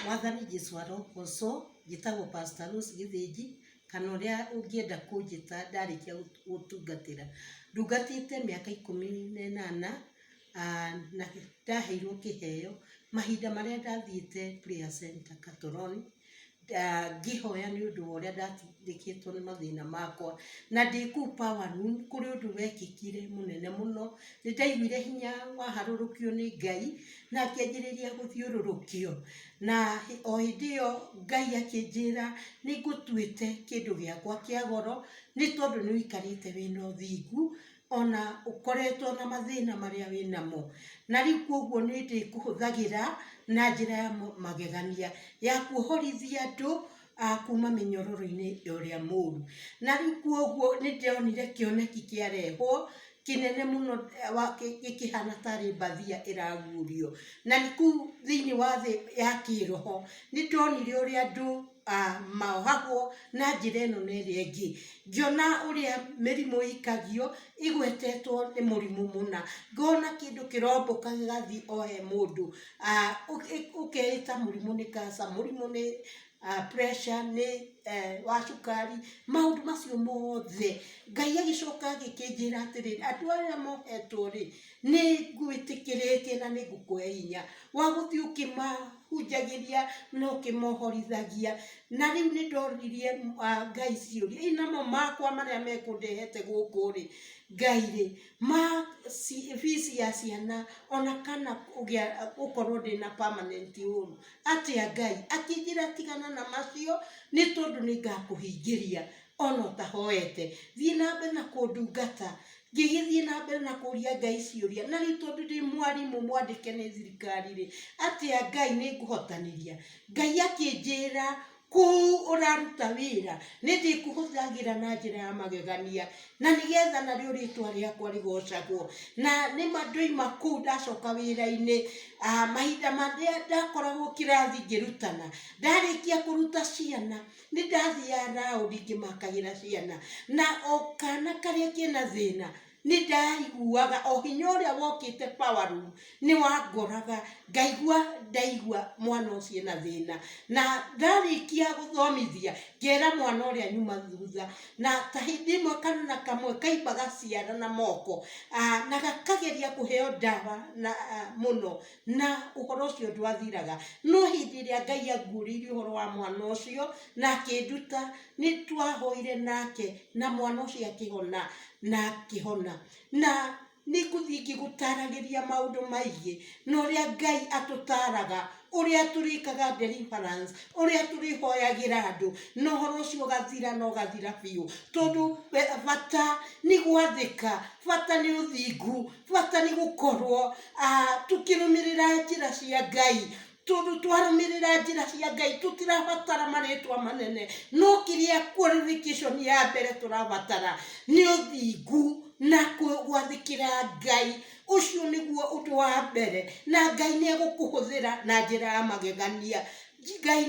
Mwathani Jesũ arogoocwo. Njĩtagwo Pastor Rose Gĩthĩnji, kana ũrĩa ũngĩenda kũnjĩta ndarĩkia gũtungatĩra. Ndungatĩte mĩaka ikũmi na ĩnana, aah na ndaheirwo kĩheo. Mahinda marĩa ndathiĩte Prayer Center Katoro-inĩ. ngĩhoya nĩ ũndũ wa ũrĩa ndatindĩkĩtwo nĩ mathĩna makwa, na ndĩ kũu power room kũrĩ ũndũ wekĩkire mũnene mũno, nĩ ndaiguire hinya waharũrũkio nĩ Ngai, na ngĩanjĩrĩria gũthiũrũrũkio, na o hĩndĩ ĩyo Ngai akĩnjĩra nĩ ngũtuĩte kĩndũ gĩakwa kĩa goro, nĩ tondũ nĩ ũikarĩte wĩna ũthingu. ona ũkoretwo na mathĩna marĩa wĩ namo, na rĩu koguo nĩ ndĩkũhũthagĩra na njĩra ya magegania, ya kuohorithia andũ a kuuma mĩnyororo-inĩ ũrĩa mũũru. Na rĩu koguo nĩ ndonire kĩoneki kĩarehwo, kĩnene mũno gĩkĩhana tarĩ mbathia ĩragurio. Na kũu thĩiniĩ wa thĩ ya kĩĩroho, nĩ ndonire ũrĩa andũ mohagwo na njĩra ĩno na ĩrĩa ĩngĩ, ngĩona ũrĩa mĩrimũ ĩikagio ĩgwetetwo nĩ mũrimũ mũna, ngona kĩndũ kĩrombũka gĩgathiĩ o he mũndũ, ũkeĩta mũrimũ nĩ kanca, mũrimũ nĩ pressure, nĩ wa cukari, maũndũ macio mothe, Ngai agĩcoka agĩkĩnjĩra atĩrĩrĩ, andũ aya mohetwo rĩ, Nĩngwĩtĩkĩrĩtie na nĩngũkũhe hinya wa gũthiĩ ũkĩmahunjagĩria na ũkĩmohorithagia. Na rĩu nĩndoririe Ngai ciũria, hihi namo makwa marĩa mekũndehete gũkũ-rĩ, Ngai-rĩ, ma fees ya ciana ona kana kũgĩa gũkorwo ndĩna permanent home atĩa Ngai? Akĩnjĩra tigana na macio nĩtondũ nĩngakũhingĩria. ona ũtahoete thiĩ na mbere na kũndungata ngĩgĩthiĩ na mbere na kũria ngai ciũria na rĩu tondũ ndĩ mwarimũ mwandĩke nĩ thirikari rĩ atĩa ngai nĩ ngũhotanĩria ngai akĩnjĩra kũu ũraruta wĩra nĩ ndĩkũhũthagĩra na njĩra ya magegania na nĩgetha narĩo rĩtwa rĩakwa rĩgocagwo na nĩma ndoima kũu ndacoka wĩra-inĩ ah, mahinda marĩa ndakoragwo kĩrathi ngĩrutana ndarĩkia kũruta ciana Nĩ ndathiaga raũndi ngĩmakagĩra ciana, na o kana karĩa kena thĩna nĩ ndaiguaga o hinya ũrĩa wokĩte power room nĩ wangoraga, ngaigua ndaigua mwana ũcio ena thĩna, na ndarĩkia gũthomithia ngera mwana ũrĩa nyuma thutha, na ta hĩndĩ ĩmwe kana kamwe kaimbaga ciara na moko, na gakageria kũheo ndawa mũno. na ũhoro ũcio ndwathiraga no hĩndĩ ĩrĩa ngai anguũrĩirie ũhoro wa mwana ũcio na akĩnduta nĩ twahoire nake na mwana ũcio akĩhona na akĩhona na nĩ ngũthiĩ ngĩgũtaragĩria maũndũ maingĩ na ũrĩa ngai atũtaraga ũrĩa tũrĩkaga deliverance ũrĩa tũrĩhoyagĩra andũ na ũhoro ũcio ũgathira na ũgathira biũ tondũ we- bata nĩ gwathĩka bata nĩ ũthingu Bata nĩ gũkorwo tũkĩrũmĩrĩra njĩra cia Ngai, tondũ twarũmĩrĩra njĩra cia Ngai tũtirabatara marĩtwa manene, no kĩrĩa qualification ya mbere tũrabatara nĩ ũthingu na gwathĩkĩra Ngai, ũcio nĩguo ũndũ wa mbere, na Ngai nĩ egũkũhũthĩra na njĩra ya magegania. Ngai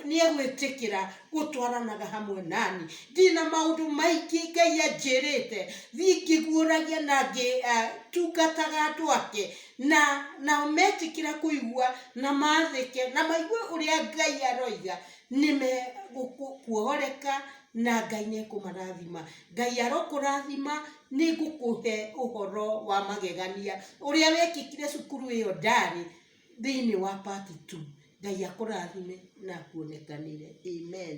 nĩegwĩtĩkĩra gũtwaranaga hamwe nani. Ndĩ na maũndũ maingĩ Ngai anjĩrĩte thiĩ ngĩguũragia na ngĩtungataga eh, andũ ake na nao metĩkĩra kũigua na mathĩke na maigue ũrĩa Ngai aroiga nĩ megũkuohoreka na Ngai nĩ ekũmarathima. Ngai arokũrathima nĩ ngũkũhe ũhoro wa magegania ũrĩa wekĩkire cukuru ĩyo ndarĩ thĩinĩ wa part two. Ngai akũrathime na akuonekanĩre. Amen.